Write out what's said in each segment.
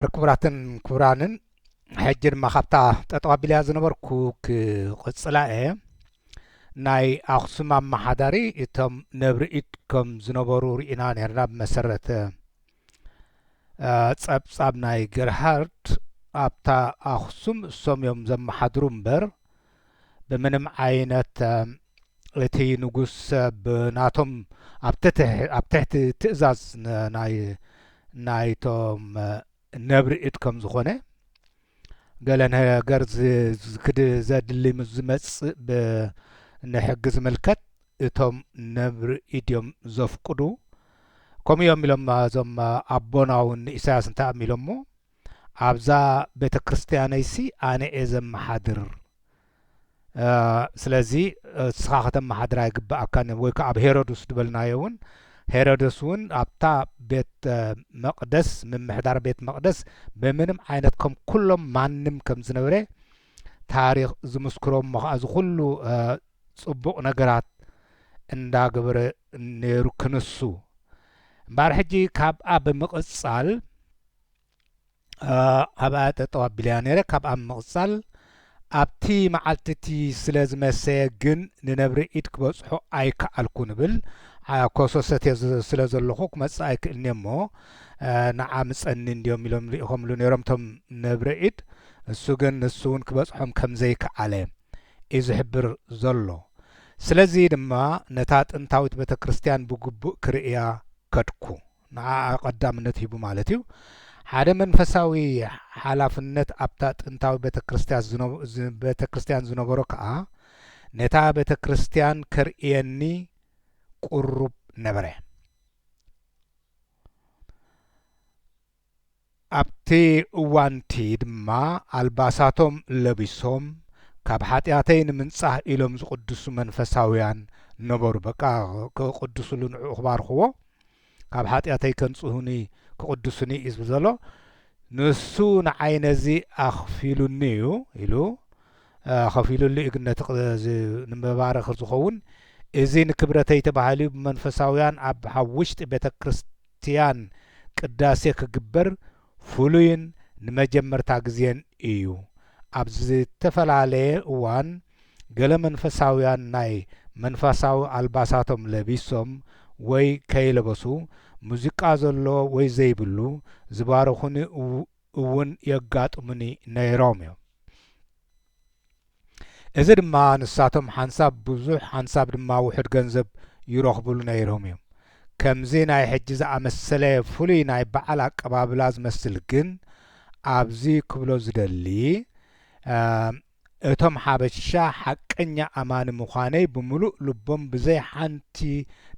ክቡራትን ክቡራንን ሕጂ ድማ ካብታ ጠጠው ኣቢለያ ዝነበርኩ ክቕፅላ እየ ናይ ኣኽሱም ኣመሓዳሪ እቶም ነብርኢድ ከም ዝነበሩ ርኢና ነርና ብመሰረተ ጸብጻብ ናይ ገርሃርድ ኣብታ ኣኽሱም እሶም እዮም ዘመሓድሩ እምበር ብምንም ዓይነት እቲ ንጉስ ብ ናቶም ኣብ ትትሕ ኣብ ትሕቲ ትእዛዝ ን ናይ ናይ ቶም ነብሪ እድ ከም ዝኾነ ገለ ን ገር ዝ ዝክድ ዘድሊ ምስ ዝመጽእ ብ ን ሕጊ ዝምልከት እቶም ነብሪ እድ እዮም ዘፍቅዱ ከምኡ እዮም ኢሎም እዞም ኣቦና ውን ን ኢሳያስ እንታይ እዮም ኢሎሞ ኣብዛ ቤተክርስትያነይሲ ኣነ'የ ዘመሓድር ስለዚ ንስኻ ከተመሓድራ ኣይግብኣካን'ዩ ወይ ከኣ ኣብ ሄሮዱስ ድበልናዮ'ውን ሄሮዶስ'ውን ኣብታ ቤት መቅደስ ምምሕዳር ቤት መቅደስ ብምንም ዓይነት ከም ኩሎም ማንም ከም ዝነበረ ታሪኽ ዝምስክሮ እሞ ከኣ እዚ ኩሉ ጽቡቅ ነገራት እንዳገበረ ነይሩ ክንሱ እምበኣር ሕጂ ካብኣ ብምቅጻል ኣብኣ ጠጠው ኣቢለያ ነይረ ካብኣ ምቕጻል ኣብቲ መዓልቲ እቲ ስለ ዝመሰየ ግን ንነብሪ ኢድ ክበጽሖ ኣይከኣልኩን እብል ኮሶ ሰትየ ስለ ዘለኹ ክመጽእ ኣይክእልንየ እሞ ንዓ ምጸኒ እንድዮም ኢሎም ልኢኾምሉ ነይሮም እቶም ነብሪ ኢድ እሱ ግን ንሱ እውን ክበጽሖም ከም ዘይከኣለ እዩ ዝሕብር ዘሎ ስለዚ ድማ ነታ ጥንታዊት ቤተ ክርስትያን ብግቡእ ክርእያ ከድኩ ንዓኣ ቀዳምነት ሂቡ ማለት እዩ። ሓደ መንፈሳዊ ሓላፍነት ኣብታ ጥንታዊ ቤተ ክርስቲያን ዝነበሮ ከኣ ነታ ቤተ ክርስቲያን ከርእየኒ ቅሩብ ነበረ። ኣብቲ እዋን'ቲ ድማ ኣልባሳቶም ለቢሶም፣ ካብ ሓጢኣተይ ንምንጻህ ኢሎም ዝቕድሱ መንፈሳውያን ነበሩ። በቃ ክቕድሱሉ ንዕኡ ክባርኽዎ፣ ካብ ሓጢኣተይ ከንጽሁኒ ክቕድሱኒ እዩ ዝብል ዘሎ። ንሱ ንዓይ ነዚ ኣኽፊሉኒ እዩ ኢሉ ኸፊሉሉ እዩ ግን ነቲ ንመባረኽ ዝኸውን እዚ ንክብረተይ ተባሂሉ ብመንፈሳውያን ኣብ ውሽጢ ቤተ ክርስት ክርስትያን ቅዳሴ ክግበር ፍሉይን ንመጀመርታ ግዜን እዩ። ኣብ ዝተፈላለየ እዋን ገለ መንፈሳውያን ናይ መንፋሳዊ ኣልባሳቶም ለቢሶም ወይ ከይለበሱ ሙዚቃ ዘሎ ወይ ዘይብሉ ዝባርኹኒ እውን የጋጥሙኒ ነይሮም እዮም። እዚ ድማ ንሳቶም ሓንሳብ ብዙሕ ሓንሳብ ድማ ውሑድ ገንዘብ ይረኽቡሉ ነይሮም እዮም። ከምዚ ናይ ሕጂ ዝኣመሰለ ፍሉይ ናይ በዓል ኣቀባብላ ዝመስል ግን ኣብዚ ክብሎ ዝደሊ እቶም ሓበሻ ሓቀኛ ኣማኒ ምዃነይ ብምሉእ ልቦም ብዘይ ሓንቲ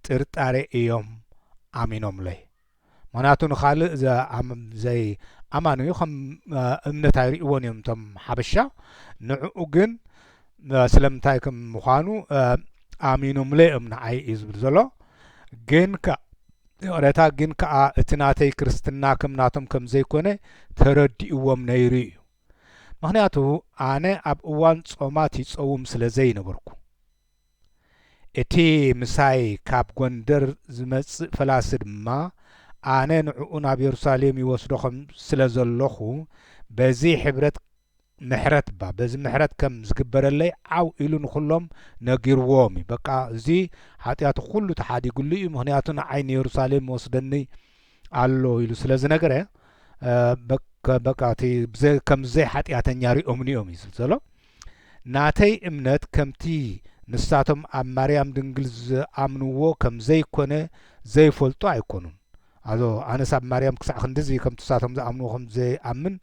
ጥርጣሬ እዮም ኣሚኖምለይ። ምክንያቱ ንካልእ ዘይ ኣማኑዩ ከም እምነት ኣይሪእዎን እዮም እቶም ሓበሻ ንዑኡ ግን ስለምንታይ ከም ምኳኑ ኣሚኖምለ እዮም ንዓይ እዩ ዝብል ዘሎ ግን ይቕሬታ ግን ከኣ እቲ ናተይ ክርስትና ከም ናቶም ከም ዘይኮነ ተረዲእዎም ነይሩ እዩ ምክንያቱ ኣነ ኣብ እዋን ጾማት ይጸውም ስለ ዘይነበርኩ እቲ ምሳይ ካብ ጐንደር ዚመጽእ ፈላሲ ድማ፣ ኣነ ንዕኡ ናብ የሩሳሌም ይወስዶ ኸም ስለ ዘሎኹ፣ በዚ ሕብረት ምሕረት እባ በዚ ምሕረት ከም ዚግበረለይ ዓው ኢሉ ንዅሎም ነጊርዎም እዩ። በቃ እዚ ሓጢኣቱ ዅሉ ተሓዲጉሉ እዩ፣ ምኽንያቱ ንዓይ ንየሩሳሌም ይወስደኒ ኣሎ ኢሉ ስለ ዝነገረ፣ በቃ እቲ ከም ዘይሓጢኣተኛ ርእዮምኒ እዮም እዩ ዚብል ዘሎ። ናተይ እምነት ከምቲ ንሳቶም ኣብ ማርያም ድንግል ዝኣምንዎ ከም ዘይኮነ ዘይፈልጡ ኣይኮኑን ኣዞ ኣነስ ኣብ ማርያም ክሳዕ ክንድዚ ከምቲ ንሳቶም ዝኣምንዎ ከም ዘይኣምን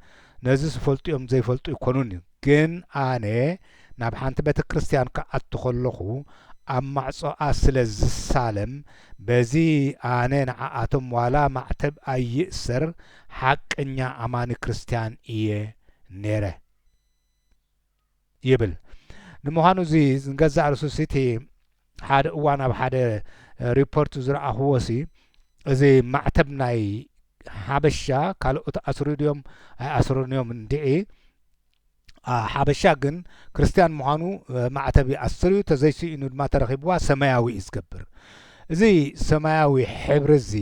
ነዝስ ይፈልጡዮም ዘይፈልጡ ኣይኮኑን ግን ኣነ ናብ ሓንቲ ቤተክርስትያን ክኣቱ ከለኹ ኣብ ማዕጾኣ ስለ ዝሳለም በዚ ኣነ ንዓኣቶም ዋላ ማዕተብ ኣይእሰር ሓቀኛ ኣማኒ ክርስትያን እየ ኔረ ይብል ንምዃኑ እዚ ንገዛእ ርእሱ ሲቲ ሓደ እዋን ኣብ ሓደ ሪፖርት ዝረኣኹዎ ሲ እዚ ማዕተብ ናይ ሓበሻ ካልኦት ኣስሩ ድዮም ኣይኣስሩን እዮም እንድዒ ሓበሻ ግን ክርስትያን ምዃኑ ማዕተብ ይኣስር እዩ ተዘይስኢኑ ድማ ተረኺብዋ ሰማያዊ እዩ ዝገብር እዚ ሰማያዊ ሕብሪ እዚ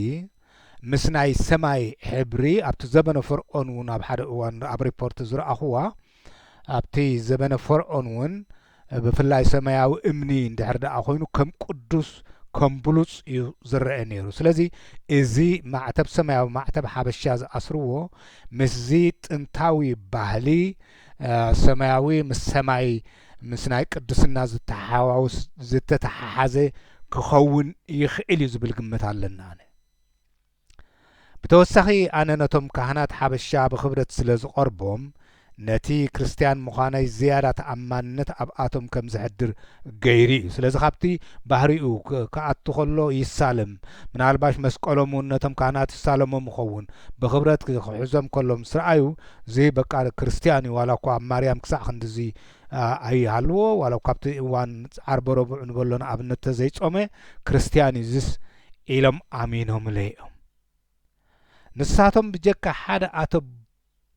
ምስ ናይ ሰማይ ሕብሪ ኣብቲ ዘበነ ፈርኦን ውን ኣብ ሓደ እዋን ኣብ ሪፖርት ዝረኣኹዋ ኣብቲ ዘበነ ፈርኦን ውን ብፍላይ ሰማያዊ እምኒ እንድሕር ደኣ ኮይኑ ከም ቅዱስ ከም ብሉጽ እዩ ዝረአ ነይሩ ስለዚ እዚ ማዕተብ ሰማያዊ ማዕተብ ሓበሻ ዝኣስርዎ ምስዚ ጥንታዊ ባህሊ ሰማያዊ ምስ ሰማይ ምስ ናይ ቅድስና ዝተሓዋወስ ዝተተሓሓዘ ክኸውን ይኽእል እዩ ዝብል ግምት ኣለኒ ኣነ። ብተወሳኺ ኣነ ነቶም ካህናት ሓበሻ ብኽብረት ስለ ዝቐርቦም ነቲ ክርስትያን ምዃነይ ዝያዳ ተኣማንነት ኣብኣቶም ከም ዘሕድር ገይሩ እዩ። ስለዚ ካብቲ ባህሪኡ ክኣቱ ከሎ ይሳለም፣ ምናልባሽ መስቀሎም እውን ነቶም ካህናት ይሳለሞም ይኸውን፣ ብኽብረት ክሕዞም ከሎ ምስ ረኣዩ እዚ በቃ ክርስትያን እዩ ዋላ እኳ ኣብ ማርያም ክሳዕ ክንድዚ ኣይሃልዎ ዋላ እኳ ኣብቲ እዋን ዓርበ ረቡዕ ንበሎ ንኣብነት ተዘይጾመ ክርስትያን እዩ እዚስ ኢሎም ኣሚኖምለ እዮም ንሳቶም ብጀካ ሓደ ኣቶ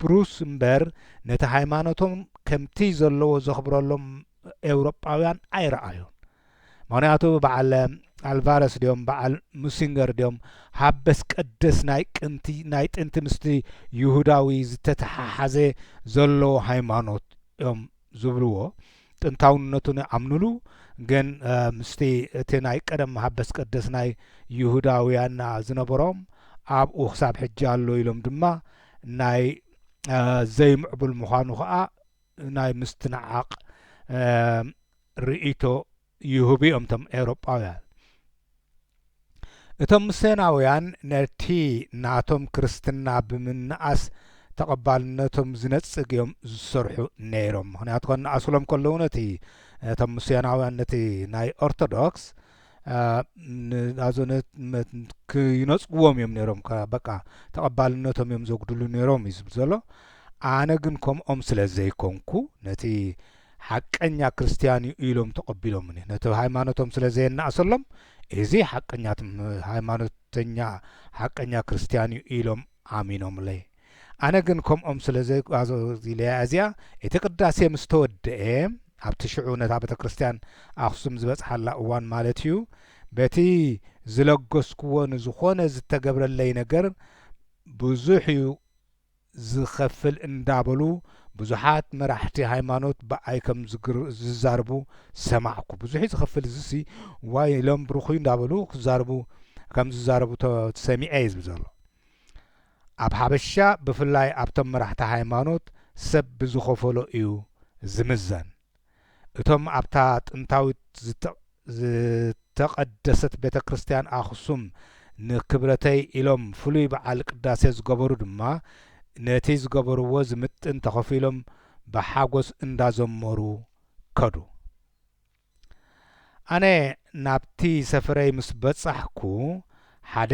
ብሩስ እምበር ነቲ ሃይማኖቶም ከምቲ ዘለዎ ዘኽብረሎም ኤውሮጳውያን ኣይረኣዩን ምኽንያቱ ብዓል ኣልቫረስ ድዮም ብዓል ሙሲንገር ድዮም ሃበስ ቀደስ ናይ ቅንቲ ናይ ጥንቲ ምስቲ ይሁዳዊ ዝተተሓሓዘ ዘሎ ሃይማኖት እዮም ዝብልዎ ጥንታውነቱ ንኣምንሉ ግን ምስቲ እቲ ናይ ቀደም ሃበስ ቀደስ ናይ ይሁዳውያና ዝነበሮም ኣብኡ ክሳብ ሕጂ ኣሎ ኢሎም ድማ ናይ ዘይምዕቡል ምዃኑ ከዓ ናይ ምስትንዓቕ ርእይቶ ይህቡ እዮም እቶም ኤውሮጳውያን። እቶም ምሴናውያን ነቲ ናቶም ክርስትና ብምንኣስ ተቐባልነቶም ዝነጽግ እዮም ዝሰርሑ ነይሮም። ምኽንያቱ ከነኣስሎም ከለዉ ነቲ እቶም ምሴናውያን ነቲ ናይ ኦርቶዶክስ ይነጽግዎም እዮም ነይሮም በቃ ተቐባልነቶም እዮም ዘጉድሉ ነይሮም እዩ ዝብል ዘሎ ኣነ ግን ከምኦም ስለ ዘይኮንኩ ነቲ ሓቀኛ ክርስትያን እዩ ኢሎም ተቐቢሎምኒ። ነቲ ሃይማኖቶም ስለ ዘየናእሰሎም፣ እዚ ሓቀኛ ሃይማኖተኛ ሓቀኛ ክርስትያን እዩ ኢሎም ኣሚኖምለይ። ኣነ ግን ከምኦም ስለ ዘይጓዘዚለያ እዚኣ፣ እቲ ቅዳሴ ምስ ተወደኤ፣ ኣብቲ ሽዑ ነታ ቤተ ክርስትያን ኣኽሱም ዝበጽሓላ እዋን ማለት እዩ፣ በቲ ዝለገስኩዎ ንዝኾነ ዝተገብረለይ ነገር ብዙሕ እዩ፣ ዝኸፍል እንዳበሉ ብዙሓት መራሕቲ ሃይማኖት ብኣይ ከም ዝዛርቡ ሰማዕኩ ብዙሕዩ ዝኸፍል እዝሲ ዋይ ኢሎም ብሩኽዩ እንዳበሉ ክዛርቡ ከም ዝዛረቡ ሰሚዔ ዝብል ዘሎ ኣብ ሓበሻ ብፍላይ ኣብቶም መራሕቲ ሃይማኖት ሰብ ብዝኸፈሎ እዩ ዝምዘን እቶም ኣብታ ጥንታዊት ዝተቐደሰት ቤተ ክርስቲያን ኣኽሱም ንክብረተይ ኢሎም ፍሉይ በዓል ቅዳሴ ዝገበሩ ድማ ነቲ ዝገበርዎ ዝምጥን ተኸፊሎም ብሓጐስ እንዳዘመሩ ከዱ። ኣነ ናብቲ ሰፈረይ ምስ በጻሕኩ ሓደ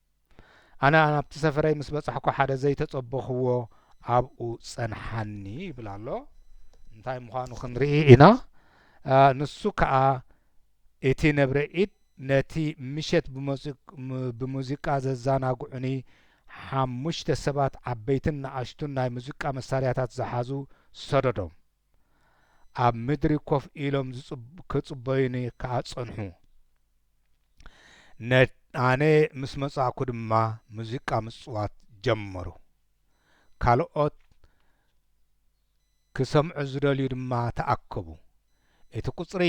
ኣነ ናብቲ ሰፈረይ ምስ በጻሕኩ ሓደ ዘይተጸበኹዎ ኣብኡ ጸንሓኒ ይብል ኣሎ እንታይ ምዃኑ ክንርኢ ኢና ንሱ ከኣ እቲ ነብረ ኢድ ነቲ ምሸት ብሙዚቃ ዘዛናግዑኒ ሓሙሽተ ሰባት ዓበይትን ንኣሽቱን ናይ ሙዚቃ መሳርያታት ዝሓዙ ሰደዶም ኣብ ምድሪ ኮፍ ኢሎም ኪጽበዩኒ ከኣ ጸንሑ። ኣነ ምስ መጻእኩ ድማ ሙዚቃ ምጽዋት ጀመሩ። ካልኦት ኪሰምዑ ዚደልዩ ድማ ተኣከቡ። እቲ ቍጽሪ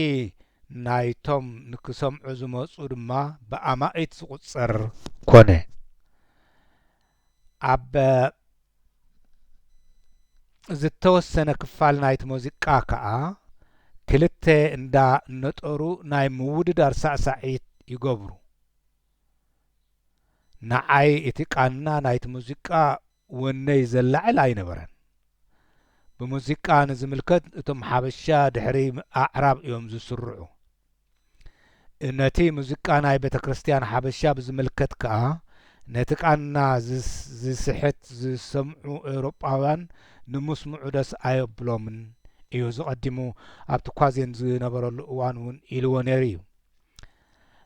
ናይቶም ንኪሰምዑ ዝመጹ ድማ ብኣማኢት ዚቝጸር ኰነ። ኣብ ዝተወሰነ ክፋል ናይቲ ሙዚቃ ከኣ ክልተ እንዳ ነጠሩ ናይ ምውድዳር ሳዕሳዒት ይገብሩ። ንዓይ እቲ ቃና ናይቲ ሙዚቃ ወነይ ዘላዕል ኣይነበረን። ብሙዚቃ ንዝምልከት እቶም ሓበሻ ድሕሪ ኣዕራብ እዮም ዝስርዑ። ነቲ ሙዚቃ ናይ ቤተክርስትያን ሓበሻ ብዝምልከት ከኣ፣ ነቲ ቃና ዚስሕት ዚሰምዑ ኤውሮጳውያን ንምስምዑ ደስ ኣየብሎምን እዩ፣ እዚ ቀዲሙ ኣብቲ ኳዜን ዝነበረሉ እዋን እውን ኢልዎ ነይሩ እዩ።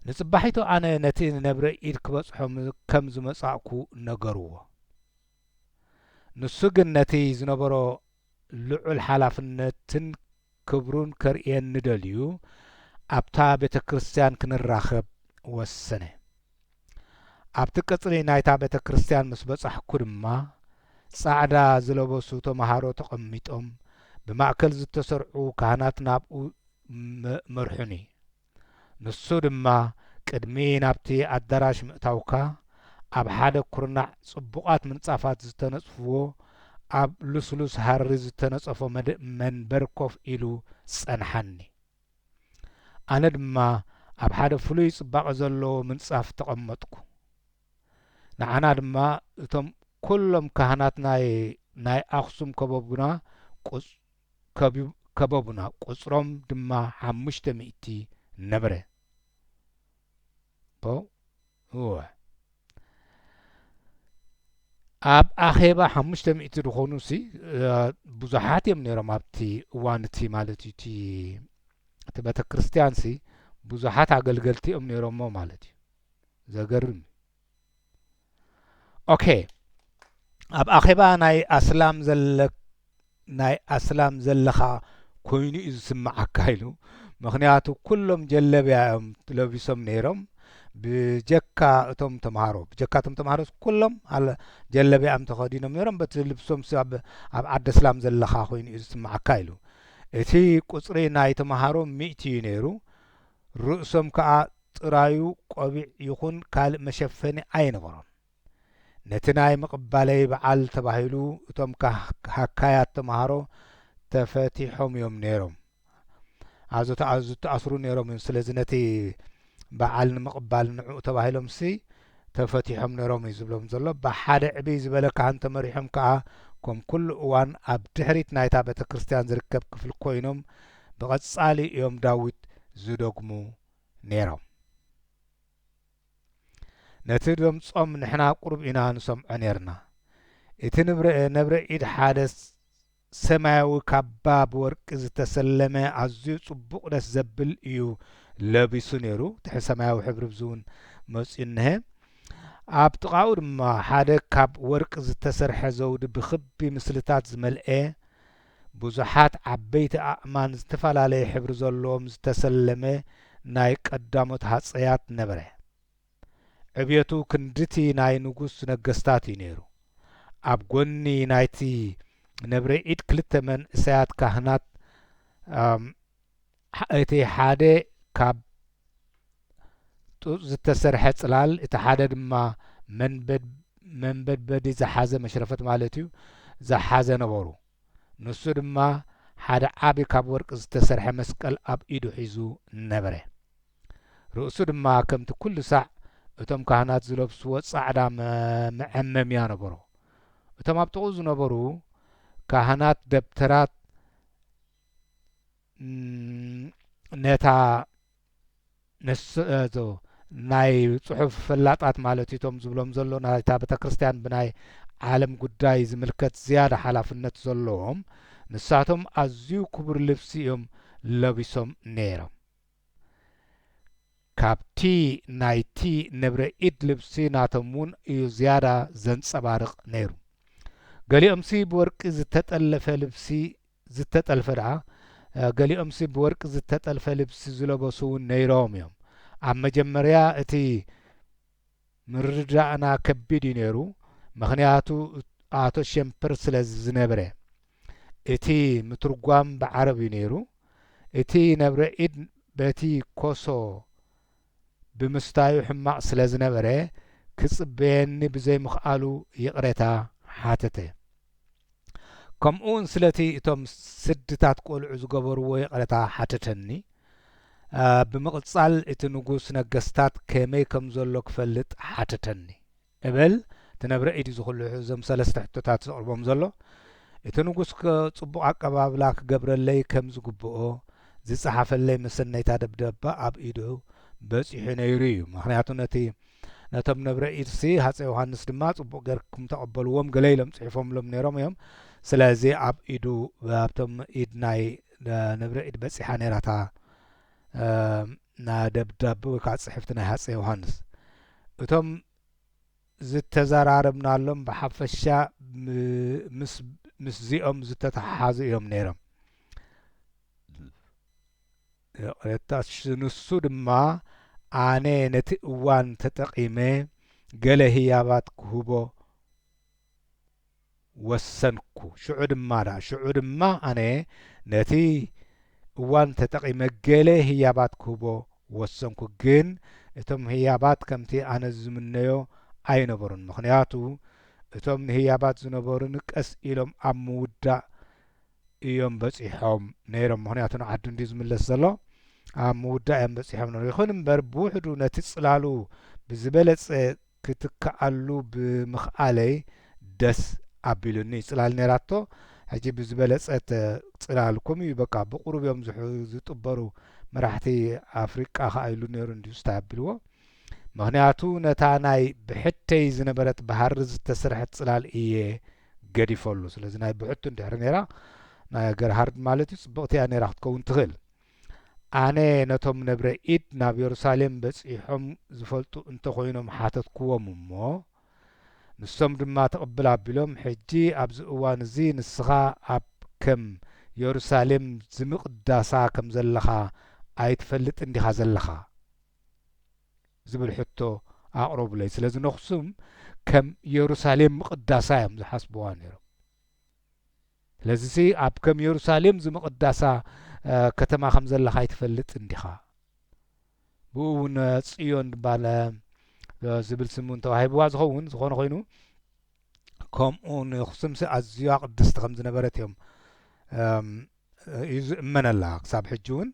ንጽባሒቱ ኣነ ነቲ ንነብረ ኢድ ክበጽሖ ከም ዝመጻእኩ ነገርዎ። ንሱ ግን ነቲ ዝነበሮ ልዑል ሓላፍነትን ክብሩን ከርእየኒ ደልዩ ኣብታ ቤተ ክርስቲያን ክንራኸብ ወሰነ። ኣብቲ ቀጽሪ ናይታ ቤተ ክርስቲያን ምስ በጻሕኩ ድማ፣ ጻዕዳ ዝለበሱ ተመሃሮ ተቐሚጦም፣ ብማእከል ዝተሰርዑ ካህናት ናብኡ መርሑኒ። ንሱ ድማ ቅድሚ ናብቲ ኣዳራሽ ምእታውካ ኣብ ሓደ ኩርናዕ ጽቡቓት ምንጻፋት ዝተነጽፍዎ ኣብ ልስሉስ ሃሪ ዝተነጸፎ መንበር ኮፍ ኢሉ ጸንሓኒ። ኣነ ድማ ኣብ ሓደ ፍሉይ ጽባቐ ዘለዎ ምንጻፍ ተቐመጥኩ። ንዓና ድማ እቶም ኩሎም ካህናት ናይ ናይ ኣኽሱም ከበቡና ከበቡና፣ ቍጽሮም ድማ ሓሙሽተ ሚእቲ ነበረ። ኣብ ኣኼባ ሓሙሽተ ሚእቲ ዝዀኑሲ ብዙሓት እዮም ነይሮም፣ ኣብቲ እዋን እቲ ማለት እዩ። እቲ ቤተ ክርስትያንሲ ብዙሓት ኣገልገልቲ እዮም ነይሮምዎ ማለት እዩ። ዘገርም እዩ! ኦኬ ኣብ ኣኼባ ናይ ኣስላም ዘለ ናይ ኣስላም ዘለኻ ኮይኑ እዩ ዝስምዓካ ኢሉ ምክንያቱ ኩሎም ጀለብያ እዮም ለቢሶም ነይሮም ብጀካ እቶም ተምሃሮ ብጀካ እቶም ተምሃሮ ኩሎም ጀለብያ እዮም ተኸዲኖም ነይሮም በቲ ልብሶም ኣብ ኣብ ዓዲ ኣስላም ዘለኻ ኮይኑ እዩ ዝስምዓካ ኢሉ እቲ ቁፅሪ ናይ ተምሃሮ ሚእቲ እዩ ነይሩ ርእሶም ከዓ ጥራዩ ቆቢዕ ይኹን ካልእ መሸፈኒ ኣይነበሮን። ነቲ ናይ ምቕባለይ በዓል ተባሂሉ እቶም ሃካያት ተመሃሮ ተፈቲሖም'ዮም ነይሮም። ኣዞታ ዝተኣስሩ ነይሮም'ዮም፣ ስለዚ ነቲ በዓል ንምቕባል ንዕኡ ተባሂሎምሲ ተፈቲሖም ነይሮም'ዩ ዝብሎም ዘሎ። ብሓደ ዕብይ ዝበለ ካህን ተመሪሖም ከኣ ከም ኩሉ እዋን ኣብ ድሕሪት ናይታ ቤተክርስትያን ዝርከብ ክፍሊ ኮይኖም ብቐጻሊ'ዮም ዳዊት ዝደግሙ ነይሮም። ነቲ ደምጾም ንሕና ቁሩብ ኢና ንሰምዖ ነይርና። እቲ ነብረ ኢድ ሓደ ሰማያዊ ካባ ብወርቂ ዝተሰለመ ኣዝዩ ጽቡቕ ደስ ዘብል እዩ ለቢሱ ነይሩ። ትሕቲ ሰማያዊ ሕብሪ ብዝውን መጽዩ እንሀ። ኣብ ጥቓኡ ድማ ሓደ ካብ ወርቂ ዝተሰርሐ ዘውዲ ብክቢ ምስልታት ዝመልኤ ብዙሓት ዓበይቲ ኣእማን ዝተፈላለየ ሕብሪ ዘለዎም ዝተሰለመ ናይ ቀዳሞት ሃጸያት ነበረ። ዕብየቱ ክንድቲ ናይ ንጉስ ነገስታት እዩ ነይሩ። ኣብ ጎኒ ናይቲ ነብረ ኢድ ክልተ መንእሰያት ካህናት እቲ ሓደ ካብ ጡጥ ዝተሰርሐ ጽላል፣ እቲ ሓደ ድማ መንበድበዲ ዝሓዘ መሽረፈት ማለት እዩ፣ ዝሓዘ ነበሩ። ንሱ ድማ ሓደ ዓቢ ካብ ወርቂ ዝተሰርሐ መስቀል ኣብ ኢዱ ሒዙ ነበረ። ርእሱ ድማ ከምቲ ኩሉ ሳዕ እቶም ካህናት ዝለብስዎ ጻዕዳ መዐመምያ ነበሮ። እቶም ኣብ ጥቕኡ ዝነበሩ ካህናት ደብተራት ነታ ነስእዞ ናይ ጽሑፍ ፈላጣት ማለት እቶም ዝብሎም ዘሎ ናይታ ቤተ ክርስቲያን ብናይ ዓለም ጉዳይ ዝምልከት ዝያዳ ሓላፍነት ዘለዎም ንሳቶም ኣዝዩ ክቡር ልብሲ እዮም ለቢሶም ነይሮም ካብቲ ናይቲ ንብረ ኢድ ልብሲ ናቶም እውን እዩ ዝያዳ ዘንጸባርቕ ነይሩ። ገሊኦምሲ ብወርቂ ዝተጠልፈ ልብሲ ዝተጠልፈ ደኣ ገሊኦምሲ ብወርቂ ዝተጠልፈ ልብሲ ዝለበሱ እውን ነይሮም እዮም። ኣብ መጀመርያ እቲ ምርድዳእና ከቢድ እዩ ነይሩ ምኽንያቱ ኣቶ ሸምፐር ስለ ዝነብረ እቲ ምትርጓም ብዓረብ እዩ ነይሩ እቲ ነብረ ኢድ በቲ ኮሶ ብምስታዩ ሕማቕ ስለ ዝነበረ ክጽበየኒ ብዘይምኽኣሉ ይቕሬታ ሓተተ። ከምኡውን ስለቲ እቶም ስድታት ቆልዑ ዝገበርዎ ይቕረታ ሓተተኒ። ብምቕጻል እቲ ንጉስ ነገስታት ከመይ ከም ዘሎ ክፈልጥ ሓተተኒ እብል ትነብረ ኢድ ዝኹልሑ እዞም ሰለስተ ሕቶታት ዘቕርቦም ዘሎ እቲ ንጉስ ጽቡቕ ኣቀባብላ ክገብረለይ ከም ዝግብኦ ዝጸሓፈለይ መሰነይታ ደብዳባ ኣብ ኢዱ በጺሑ ነይሩ እዩ ምክንያቱ ነቲ ነቶም ነብረ ኢድሲ ሃጸይ ዮሃንስ ድማ ጽቡቅ ገርኩም ተቀበልዎም ገለ ኢሎም ጽሒፎምሎም ነሮም እዮም ስለዚ ኣብ ኢዱ ኣብቶም ኢድ ናይ ነብረ ኢድ በጺሓ ነራታ ናደብዳብ ወይ ከዓ ጽሕፍቲ ናይ ሃጸይ ዮሃንስ እቶም ዝተዘራረብናሎም ብሓፈሻ ምስ ምስዚኦም ዝተተሓሓዙ እዮም ነይሮም ይቕሬታሽ ንሱ ድማ ኣነ ነቲ እዋን ተጠቒመ ገለ ህያባት ክህቦ ወሰንኩ። ሽዑ ድማ ደኣ ሽዑ ድማ ኣነ ነቲ እዋን ተጠቒመ ገለ ህያባት ክህቦ ወሰንኩ። ግን እቶም ህያባት ከምቲ ኣነ ዝምነዮ ኣይነበሩን። ምኽንያቱ እቶም ንህያባት ዝነበሩኒ ቀስ ኢሎም ኣብ ምውዳእ እዮም በጺሖም ነይሮም ምኽንያቱ ንዓዱ እንድዩ ዝምለስ ዘሎ ኣብ ምውዳእ እዮም በጺሖም ነይሮም ይኹን እምበር ብውሕዱ ነቲ ጽላሉ ብዝበለጸ ክትክኣሉ ብምኽኣለይ ደስ ኣቢሉኒ ጽላል ነይራቶ ሕጂ ብዝበለጸት ጽላል ኮም እዩ በቃ ብቁሩብ እዮም ዝጥበሩ መራሕቲ ኣፍሪቃ ከኣ ኢሉ ነይሩ እንድዩ ስታይ ኣቢልዎ ምኽንያቱ ነታ ናይ ብሕተይ ዝነበረት ብሃሪ ዝተሰርሐት ጽላል እየ ገዲፈሉ ስለዚ ናይ ብሕቱ እንድሕሪ ነይራ ናይ ገርሃርድ ማለት እዩ ጽብቕቲ እያ ነይራ ክትከውን ትኽእል ኣነ ነቶም ነብረ ኢድ ናብ የሩሳሌም በጺሖም ዝፈልጡ እንተኾይኖም ሓተትክዎም እሞ ንሶም ድማ ትቕብል ኣቢሎም ሕጂ ኣብዚ እዋን እዚ ንስኻ ኣብ ከም የሩሳሌም ዝምቕዳሳ ከም ዘለኻ ኣይትፈልጥን ዲኻ ዘለኻ ዝብል ሕቶ ኣቕረቡለይ። ስለዚ ነኹሱም ከም የሩሳሌም ምቕዳሳ እዮም ዝሓስብዋ ነይሮም። ስለዚሲ ኣብ ከም የሩሳሌም ዝምቕዳሳ ከተማ ከም ዘለኻ ኣይትፈልጥ እንዲኻ ብኡ እውን ጽዮን ድባለ ዝብል ስም እውን ተዋሂብዋ ዝኸውን ዝኾነ ኮይኑ ከምኡ ንክስምሲ ኣዝያ ቅድስቲ ከም ዝነበረት እዮም እዩ ዝእመነላ ክሳብ ሕጂ ውን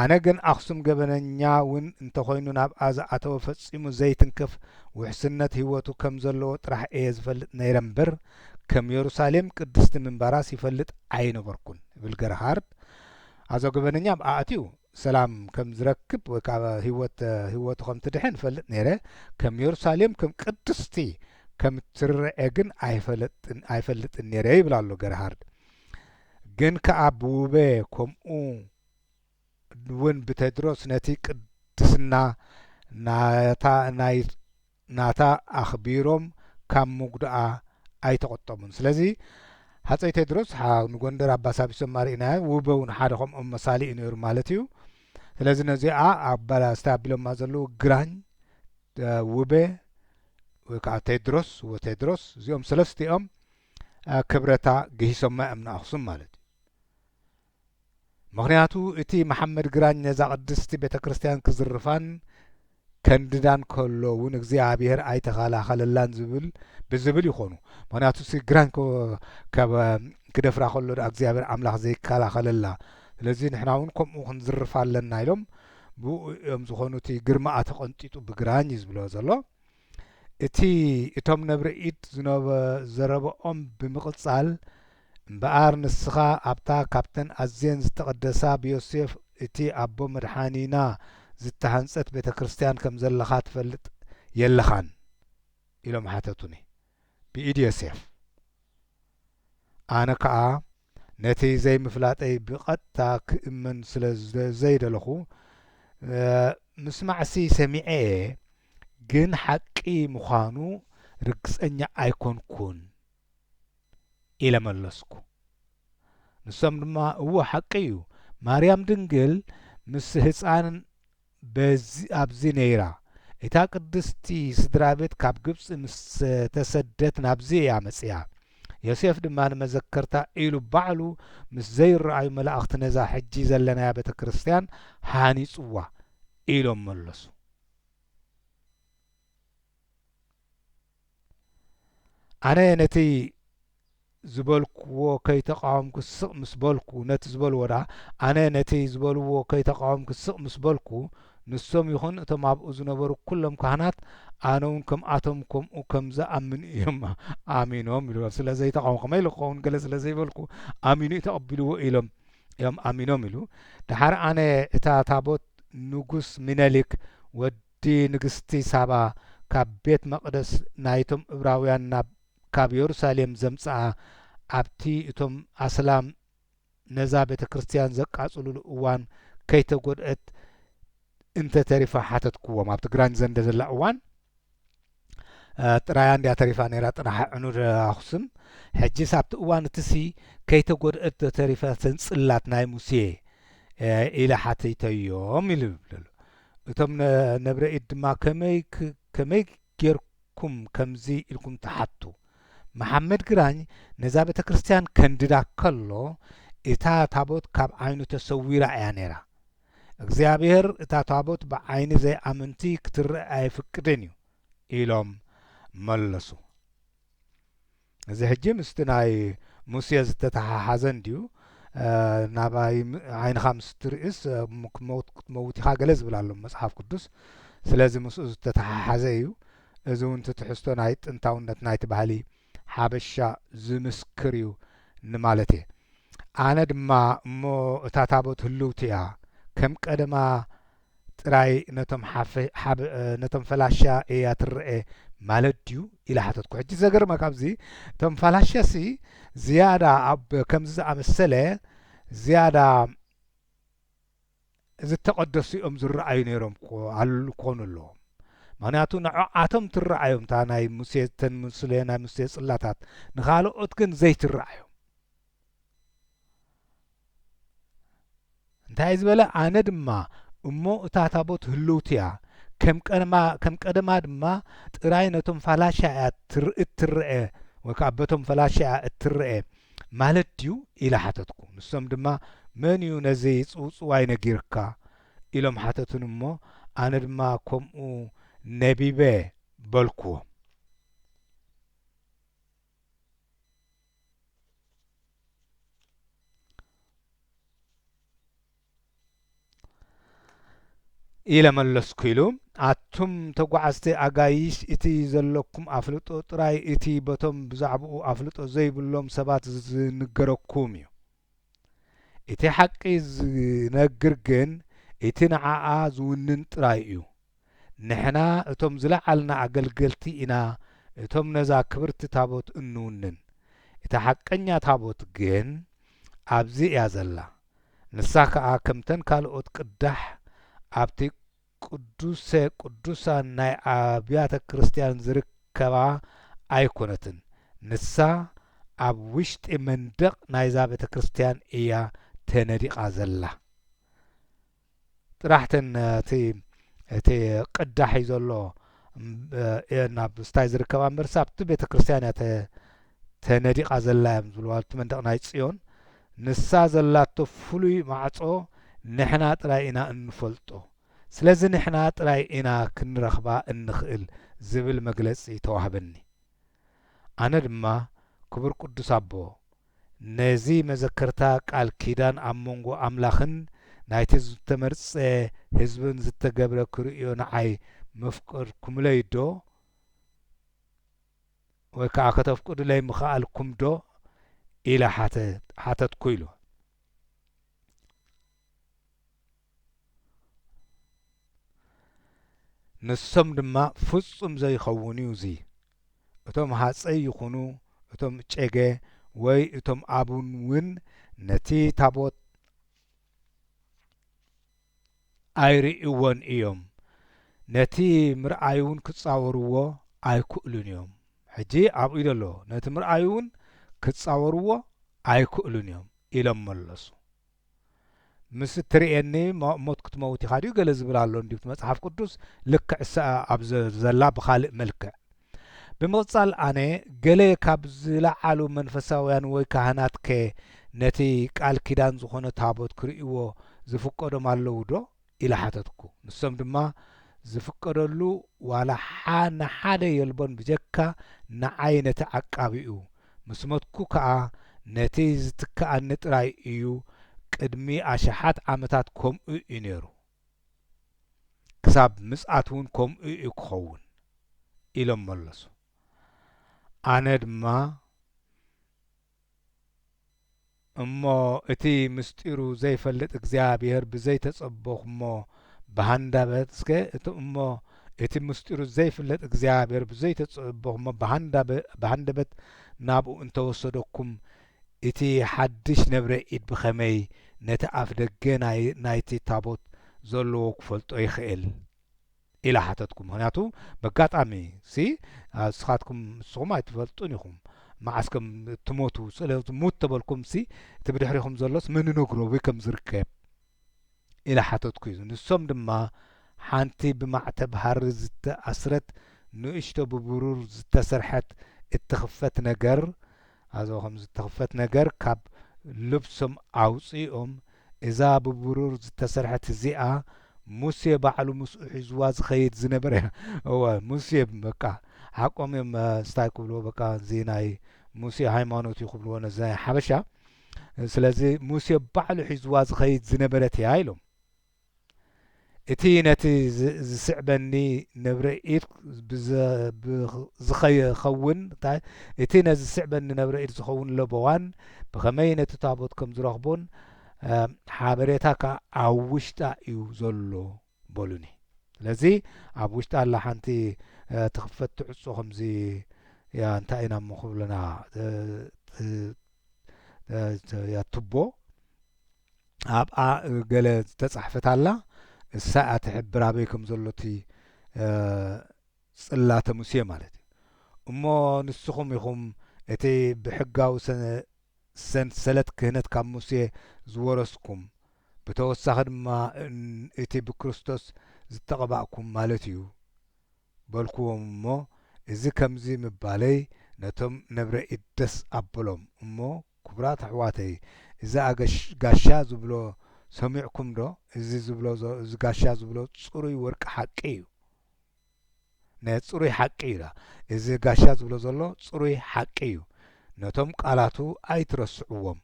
ኣነ ግን ኣክሱም ገበነኛ ውን እንተኮይኑ ናብኣ ዝኣተወ ፈጺሙ ዘይትንክፍ ውሕስነት ሂወቱ ከም ዘለዎ ጥራሕ እየ ዝፈልጥ ነይረ እምበር ከም የሩሳሌም ቅድስቲ ምንባራስ ይፈልጥ ኣይነበርኩን ይብል ገርሃርድ ኣዞ ገበነኛ ኣብኣ ኣትዩ ሰላም ከም ዝረክብ ወይ ከኣ ህይወት ህይወቱ ከም ትድሕን እፈልጥ ነይረ፣ ከም የሩሳሌም ከም ቅድስቲ ከም እትርኣ ግን ኣይፈለጥን ኣይፈልጥን ነይረ ይብል ኣሎ ገርሃርድ። ግን ከኣ ብውበ ከምኡ ውን ብቴድሮስ ነቲ ቅድስና ናታ ናይ ናታ ኣኽቢሮም ካብ ምጉድኣ ኣይተቖጠቡን። ስለዚ ሃጸይ ቴድሮስ ሓው ንጎንደር ኣባሳቢሶም ኣርኢናዮ፣ ውበ ውን ሓደ ከምኦም መሳሊ'ዩ ነይሩ ማለት'ዩ። ስለዚ ነዚኣ ኣባላስቲ ኣቢሎማ ዘለዉ ግራኝ፣ ውበ ወይ ከኣ ቴድሮስ፣ ውበ ቴድሮስ፣ እዚኦም ሰለስቲኦም ክብረታ ግሂሶማ እዮም ንኣኽሱም ማለት'ዩ። ምኽንያቱ እቲ መሓመድ ግራኝ ነዛ ቅድስቲ ቤተ ክርስቲያን ክዝርፋን ከንድዳን ከሎ እውን እግዚኣብሔር ኣይተኸላኸለላን ዝብል ብዝብል ይኾኑ ምኽንያቱ እሲ ግራኝ እኮ ከብ ክደፍራ ከሎ ድኣ እግዚኣብሔር ኣምላኽ ዘይከላኸለላ ስለዚ ንሕና እውን ከምኡ ክንዝርፋ ኣለና ኢሎም ብኡ እዮም ዝኾኑ እቲ ግርማኣ ተቐንጢጡ ብግራኝ እዩ ዝብሎ ዘሎ እቲ እቶም ነብሪ ኢድ ዝነበዘረበኦም ብምቕጻል፣ እምበኣር ንስኻ ኣብታ ኻብተን ኣዝየን ዝተቐደሳ ብዮሴፍ እቲ ኣቦ መድሓኒና ዝተሃንጸት ቤተ ክርስትያን ከም ዘለኻ ትፈልጥ የለኻን? ኢሎም ሓተቱኒ። ብኢድ ዮሴፍ። ኣነ ከኣ። ነቲ ዘይምፍላጠይ ብቐጥታ ክእመን ስለ ዘይደለኹ፣ ምስማዕሲ ሰሚዐ'የ፣ ግን ሓቂ ምዃኑ ርግጸኛ ኣይኰንኩን ኢለ መለስኩ። ንሶም ድማ እወ ሓቂ'ዩ፣ ማርያም ድንግል ምስ ህጻን በዚ ኣብዚ ነይራ። እታ ቅድስቲ ስድራቤት ካብ ግብጺ ምስ ተሰደት ናብዚ እያ መጺኣ። ዮሴፍ ድማ ንመዘከርታ ኢሉ ባዕሉ ምስ ዘይረኣዩ መላእኽቲ ነዛ ሕጂ ዘለናያ ቤተ ክርስቲያን ሃኒጽዋ ኢሎም መለሱ። ኣነ ነቲ ዝበልክዎ ከይተቃወምኩ ስቅ ምስ በልኩ ነቲ ዝበልዎ ደኣ ኣነ ነቲ ዝበልዎ ከይተቃወምኩ ስቅ ምስ በልኩ ንሶም ይኹን እቶም ኣብኡ ዝነበሩ ኩሎም ካህናት ኣነውን ከምኣቶም ከምኡ ከም ዝኣምን እዮም ኣሚኖም ኢሉ ስለ ዘይተቃወሙ ከመይ ኢሉ ክኸውን ገለ ስለ ዘይበልኩ ኣሚኑ እዩ ተቀቢልዎ ኢሎም እዮም ኣሚኖም ኢሉ ደሓር ኣነ እታ ታቦት ንጉስ ሚነሊክ ወዲ እቲ ንግስቲ ሳባ ካብ ቤት መቕደስ ናይቶም እብራውያን ናብ ካብ የሩሳሌም ዘምጽኣ ኣብቲ እቶም ኣስላም ነዛ ቤተ ክርስትያን ዘቃጽሉሉ እዋን ከይተጎድእት እንተ ተሪፋ ሓተትክዎም ኣብቲ ግራኝ ዘንደ ዘላ እዋን ጥራያ እንድያ ተሪፋ ነይራ ጥራሕ ዕኑድ ኣኹስም ሕጂስ ኣብቲ እዋን እትሲ ከይተጎድእት ዶ ተሪፈትን ጽላት ናይ ሙሴ ኢለ ሓቲተዮም ኢሉ ይብለሉ እቶም ነብረ ኢድ ድማ ከመይ ከመይ ጌርኩም ከምዚ ኢልኩም ትሓቱ መሓመድ ግራኝ ነዛ ቤተ ክርስቲያን ከንድዳ ከሎ እታ ታቦት ካብ ዓይኑ ተሰዊራ እያ ነይራ እግዚኣብሔር እታ ታቦት ብዓይኒ ዘይኣመንቲ ክትረእ ኣየፍቅድን እዩ ኢሎም መለሱ። እዚ ሕጂ ምስቲ ናይ ሙሴ ዝተተሓሓዘ እንድዩ ናባይ ዓይንኻ ምስ ትርእስ ክመውት ክትመውት ኢኻ ገለ ዝብል ኣሎ መጽሓፍ ቅዱስ ስለዚ ምስኡ ዝተተሓሓዘ እዩ እዚ እውን ትሕዝቶ ናይ ጥንታውነት ናይቲ ባህሊ ሓበሻ ዝምስክር እዩ ንማለት እየ ኣነ ድማ እሞ እታ ታቦት ህልውቲ እያ ከም ቀደማ ጥራይ ነቶም ሓፈ ነቶም ፈላሻ እያ ትረኤ ማለት ድዩ ኢለ ሓተትኩ ሕጂ ዘገርመካ ኣብዚ እቶም ፋላሻ ሲ ዝያዳ ኣብ ከምዚ ዝኣመሰለ ዝያዳ ዝተቐደሱ እዮም ዝረኣዩ ነይሮም ኮኑ ኣለዎም ምክንያቱ ንዖዓቶም ትረኣዮም እታ ናይ ሙሴ እተን ሙስሌ ናይ ሙስሌ ጽላታት ንኻልኦት ግን ዘይትረኣዮም እንታይ ዝበለ ኣነ ድማ እሞ እታ ታቦት ህልውቲ እያ ከም ቀደማ ድማ ጥራይ ነቶም ፋላሻ እያ እትረአ ወይ ከዓ በቶም ፈላሻ እያ እትረአ ማለት ድዩ? ኢለ ሓተትኩ። ንሶም ድማ መን እዩ ነዚ ጽውጽዋይ ነጊርካ? ኢሎም ሓተቱኒ እሞ ኣነ ድማ ከምኡ ነቢበ በልኩዎም። ኢለ መለስኩ ኢሉ። ኣቱም ተጓዓዝቲ ኣጋይሽ እቲ ዘለኩም ኣፍልጦ ጥራይ እቲ በቶም ብዛዕብኡ ኣፍልጦ ዘይብሎም ሰባት ዝንገረኩም እዩ። እቲ ሓቂ ዝነግር ግን እቲ ንዓኣ ዝውንን ጥራይ እዩ። ንሕና እቶም ዝለዓልና ኣገልገልቲ ኢና እቶም ነዛ ክብርቲ ታቦት እንውንን እታ ሓቀኛ ታቦት ግን ኣብዚ እያ ዘላ ንሳ ከኣ ከምተን ካልኦት ቅዳሕ ኣብቲ ቅዱሰ ቅዱሳን ናይ ኣብያተ ክርስትያን ዝርከባ ኣይኮነትን ንሳ ኣብ ውሽጢ መንደቅ ናይዛ ቤተክርስትያን እያ ተነዲቃ ዘላ። ጥራሕ እተን እቲ እቲ ቅዳሕ እዩ ዘሎ እየን ኣብ ስታይ ዝርከባ እምበርሲ ኣብቲ ቤተ ክርስቲያን እያ ተነዲቓ ዘላ እዮም ዝብልዋ እቲ መንደቕ ናይ ጽዮን ንሳ ዘላቶ ፍሉይ ማዕጾ ንሕና ጥራይ ኢና እንፈልጦ ስለዚ ንሕና ጥራይ ኢና ክንረኽባ እንኽእል ዝብል መግለጺ ተዋህበኒ ኣነ ድማ ክቡር ቅዱስ ኣቦ ነዚ መዘከርታ ቃል ኪዳን ኣብ መንጎ ኣምላኽን ናይቲ ዝተመርጸ ህዝብን ዝተገብረ ክርእዮ ንዓይ መፍቀድኩምለይዶ ወይ ከኣ ከተፍቅዱለይ ምኸኣልኩምዶ ኢለ ሓተትኩ ኢሉ። ንሶም ድማ ፍጹም ዘይኸውን እዩ እዚ እቶም ሃጸይ ይኹኑ እቶም እጨገ ወይ እቶም ኣቡን ውን ነቲ ታቦት ኣይርእይዎን እዮም ነቲ ምርኣይ ውን ክጻወርዎ ኣይክእሉን እዮም ሕጂ ኣብኡዩ ዘሎ ነቲ ምርኣይ ውን ክጻወርዎ ኣይክእሉን እዮም ኢሎም መለሱ ምስ እትርእየኒ ሞት ክትመውት ኢኻ ድዩ ገለ ዝብል ኣሎ እንድዩ እቲ መጽሓፍ ቅዱስ ልክዕ እሰኣ ኣብ ዘላ ብኻልእ መልክዕ ብምቕጻል ኣነ ገለ ካብ ዝለዓሉ መንፈሳውያን ወይ ካህናትከ ነቲ ቃል ኪዳን ዝኾነ ታቦት ክርእይዎ ዝፍቀዶም ኣለውዶ ኢለ ሓተትኩ። ንሶም ድማ ዝፍቀደሉ ዋላ ንሓደ የልቦን ብጀካ ንዓይ ነቲ ዓቃቢኡ። ምስ ሞትኩ ከኣ ነቲ ዝትክኣኒ ጥራይ እዩ ቅድሚ ኣሽሓት ዓመታት ከምኡ እዩ ነይሩ ክሳብ ምጽኣት ውን ከምኡ እዩ ክኸውን ኢሎም መለሱ። ኣነ ድማ። እሞ እቲ ምሥጢሩ ዘይፈልጥ እግዚኣብሔር ብዘይተጸበኹሞ ብሃንዳበት እስከ እቲ እሞ እቲ ምሥጢሩ ዘይፍለጥ እግዚኣብሔር ብዘይተጸበኹሞ ብሃንደበት ናብኡ እንተ ወሰደኩም እቲ ሓድሽ ነብረ ኢድ ብኸመይ ነቲ ኣፍደገ ናይቲ ታቦት ዘለዎ ክፈልጦ ይኽእል? ኢለ ሓተትኩ ምኽንያቱ በጋጣሚ ሲ እስኻትኩም ንስኹም ኣይትፈልጡን ኢኹም መዓስ ከም እትሞቱ ስለ ሙት ተበልኩም ሲ እቲ ብድሕሪኹም ዘሎስ መን ይነግሮ ኣበይ ከም ዝርከብ ኢለ ሓተትኩ ንሶም ድማ ሓንቲ ብማዕተብ ሃሪ ዝተኣስረት ንእሽቶ ብብሩር ዝተሰርሐት እትኽፈት ነገር ኣዞ ከም ዝተኽፈት ነገር ካብ ልብሶም ኣውጺኦም እዛ ብብሩር ዝተሰርሐት እዚኣ ሙሴ ባዕሉ ምስኡ ሒዙዋ ዝኸይድ ዝነበረ እወ ሙሴ በቃ ሓቆም እዮም ስታይ ክብልዎ በቃ እዚ ናይ ሙሴ ሃይማኖት እዩ ክብልዎ ነዚ ናይ ሓበሻ ስለዚ ሙሴ ባዕሉ ሒዙዋ ዝኸይድ ዝነበረት እያ ኢሎም እቲ ነቲ ዚስዕበኒ ነብረ ኢድ ዚኸውን እቲ ነዚ ዚስዕበኒ ነብረ ኢድ ዚኸውን ለበዋን ብኸመይ ነቲ ታቦት ከም ዝረኽቦን ሓበሬታ ከኣ ኣብ ውሽጣ እዩ ዘሎ በሉኒ ስለዚ ኣብ ውሽጣ ኣላ ሓንቲ ትኽፈት ትዕጾ ከምዚ ያ እንታይ ኢና እሞ ክብለና ያ ቱቦ ኣብኣ ገለ ዝተጻሕፈት ኣላ እሳ እያ ትሕብር ኣበይ ከም ዘሎ እቲ ጽላተ ሙሴ ማለት እዩ እሞ ንስኹም ኢኹም እቲ ብሕጋዊ ሰንሰለት ክህነት ካብ ሙሴ ዝወረስኩም ብተወሳኺ ድማ እቲ ብክርስቶስ ዝተቐባእኩም ማለት እዩ በልኩዎም እሞ እዚ ከምዚ ምባለይ ነቶም ነብረ ኢድ ደስ ኣበሎም እሞ ኩቡራት ኣሕዋተይ እዚ ኣገሽ ጋሻ ዝብሎ ሰሚዕኩም ዶ እዚ ዝብሎ እዚ ጋሻ ዝብሎ ጽሩይ ወርቂ ሓቂ እዩ ን ጽሩይ ሓቂ እዩ እዚ ጋሻ ዝብሎ ዘሎ ጽሩይ ሓቂ እዩ ነቶም ቃላቱ ኣይትረስዕዎም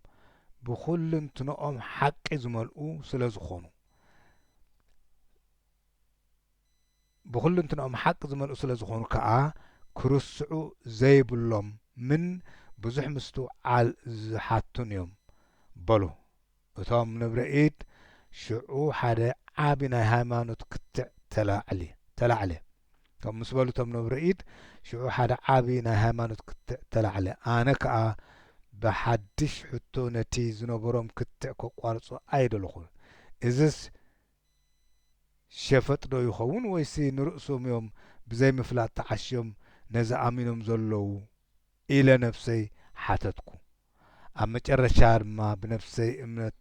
ብኩልንትንኦም ሓቂ ዝመልኡ ስለ ዝኮኑ። ብኹልንትንኦም ሓቂ ዝመልኡ ስለ ዝኾኑ ከኣ ክርስዑ ዘይብሎም ምን ብዙሕ ምስቱ ዓል ዝሓቱን እዮም በሉ እቶም ንብረ ኢድ ሽዑ ሓደ ዓቢ ናይ ሃይማኖት ክትዕ ተላዕሊ ተላዕለ ከምኡ ምስ በሉ እቶም ንብረ ኢድ ሽዑ ሓደ ዓቢ ናይ ሃይማኖት ክትዕ ተላዕለ ኣነ ከኣ ብሓድሽ ሕቶ ነቲ ዝነበሮም ክትዕ ከቋርጾ ኣይደለኹን እዝስ ሸፈጥ ዶ ይኸውን ወይሲ ንርእሶም እዮም ብዘይ ምፍላጥ ተዓሽዮም ነዚ ኣሚኖም ዘለዉ ኢለ ነብሰይ ሓተትኩ ኣብ መጨረሻ ድማ ብነብሰይ እምነት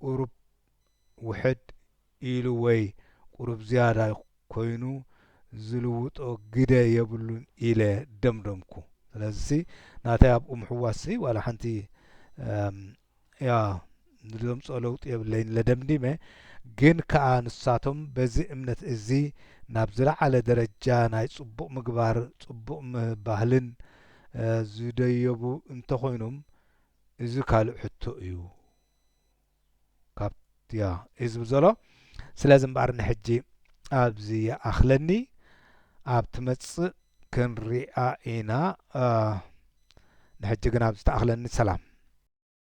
ቁሩብ ውሕድ ኢሉ ወይ ቁሩብ ዝያዳ ኮይኑ ዝልውጦ ግደ የብሉን ኢለ ደምደምኩ ስለዚሲ ናተይ ኣብኡ ምሕዋስሲ ዋላ ሓንቲ ያው ንደምጾ ለውጢ የብለይን እለ ደምዲመ ግን ከኣ ንሳቶም በዚ እምነት እዚ ናብ ዝለዓለ ደረጃ ናይ ጽቡቅ ምግባር ጽቡቅ ባህልን ዝደየቡ እንተኮይኑም እዚ ካልእ ሕቶ እዩ ካብ ያ እዩ ዝብል ዘሎ ስለዚ እምበኣር ንሕጂ ኣብዚ ይኣኽለኒ ኣብ ትመጽእ ክንሪኣ ኢና ንሕጂ ግን ኣብዚ ተኣኽለኒ ሰላም